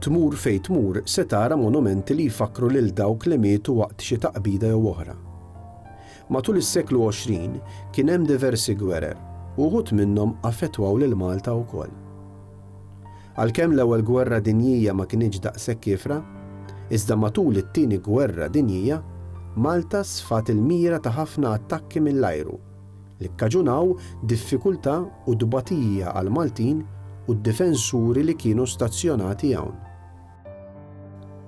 Tmur fejn tmur se tara monumenti li jfakkru lil dawk li mietu waqt xi taqbida jew oħra. Matul is-seklu 20 kien hemm diversi gwerer u wħud minnhom affettwaw lil Malta wkoll. Għalkemm l-Ewwel Gwerra Dinjija ma kinitx daqshekk kiefra, iżda matul it-Tieni Gwerra Dinjija, Malta sfat il-mira ta' ħafna attakki mill-ajru. li kkaġunaw diffikultà u tbatija għall-Maltin u d-difensuri li kienu stazzjonati hawn.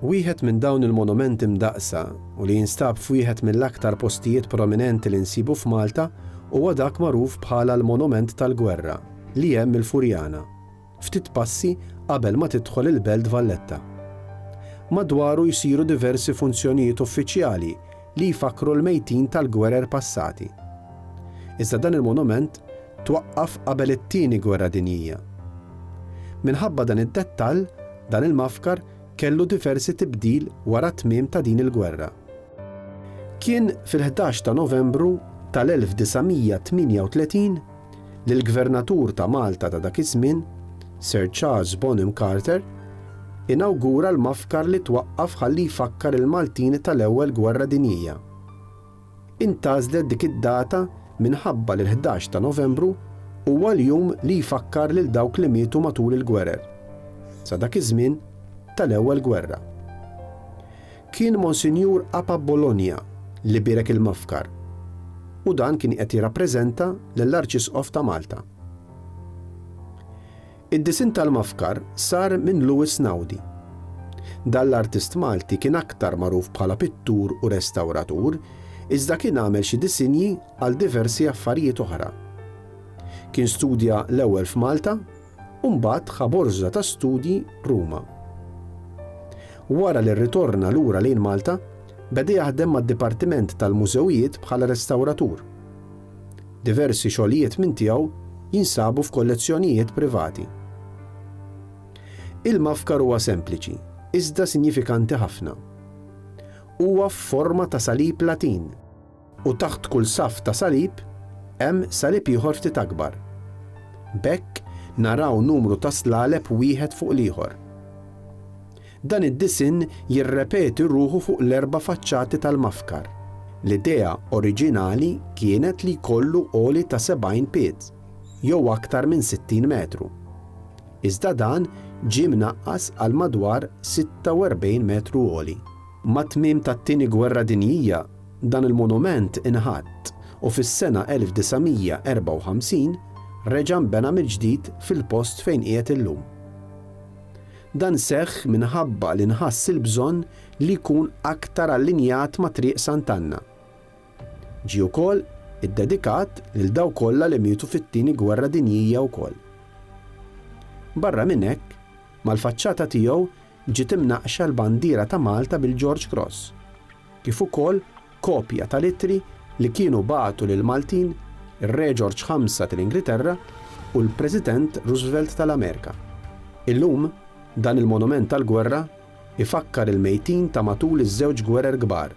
Wieħed minn dawn il-monumenti mdaqqsa u li jinstab f'wieħed mill-aktar postijiet prominenti li nsibu f'Malta huwa dak magħruf bħala l-Monument tal-Gwerra li hemm il-Furjana. ftit passi qabel ma tidħol il-Belt Valletta. Madwaru jsiru diversi funzjonijiet uffiċjali li jfakkru l-mejtin tal-gwerer passati. Iżda dan il-monument twaqqaf qabel it-Tieni Gwerra Dinjija. Minħabba dan id-dettall, dan il-mafkar kellu diversi tibdil wara t-tmiem ta' din il-gwerra. Kien fil-ħdax ta' Novembru tal-1938 li l-Gvernatur ta' Malta ta' dak iż-żmien, Sir Charles Bonham Carter, inawgura l-mafkar li twaqqaf ħalli jfakkar il-Maltin tal-Ewwel Gwerra Dinjija. Intgħażlet dik id-data minħabba li l-ħdax ta' Novembru huwa l-jum li jfakkar lil dawk li mietu matul il-gwerer, sa dak iż-żmien, tal-Ewwel Gwerra. Kien Monsinjur Papa Bologna li bierek il-mafkar u dan kien qed jirrappreżenta lill-Arċisqof ta' Malta. Id-disinn tal-mafkar sar minn Louis Naudi. Dan l-artist Malti kien aktar magħruf bħala pittur u restawratur iżda kien għamel xi disinji għal diversi affarijiet oħra. Kien studja l-ewwel f'Malta, u mbagħad ħa borża ta' studji Ruma. Wara li rritorna lura lejn Malta, beda jaħdem mad-Dipartiment tal-Mużewijiet bħala restawratur. Diversi xogħlijiet minn tiegħu jinsabu f'kollezzjonijiet privati. Il-mafkar huwa sempliċi, iżda sinjifikanti ħafna. Huwa f'forma ta' salib Latin. U taħt kull saff ta' salib hemm salib ieħor ftit akbar. B'hekk naraw numru ta' slaleb wieħed fuq l-ieħor. Dan id-disinn jirrepeti ruħu fuq l-erba' faċċati tal-mafkar. L-idea oriġinali kienet li jkollu għoli ta' 70 pied, jew aktar minn 60 metru. Iżda dan ġie mnaqqas għal madwar 46 metru għoli. Mat-tmiem tat-Tieni Gwerra Dinjija, Dan il-monument inħatt u fis-sena 1954 reġa' nbena mill-ġdid fil-post fejn qiegħed illum. Dan seħħ minħabba li nħass il-bżonn li jkun aktar allinjat ma' Triq Sant'Anna. Ġie wkoll iddedikat lil dawk kollha li mietu fit-Tieni Gwerra Dinjija wkoll. Barra minn hekk, mal-faċċata tiegħu ġiet imnaqqxa l-bandiera ta' Malta bil-George Cross. kif ukoll kopja tal-ittri li kienu bagħtu lill-Maltin, ir-Reġorġ Ħamsa tal-Ingilterra u l-President Roosevelt tal-Amerika. Illum, dan il-monument tal-gwerra jfakkar il-mejtin ta' matul iż-żewġ gwerer kbar,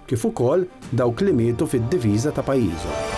kif ukoll dawk li mietu fid-diviża ta' pajjiżhom.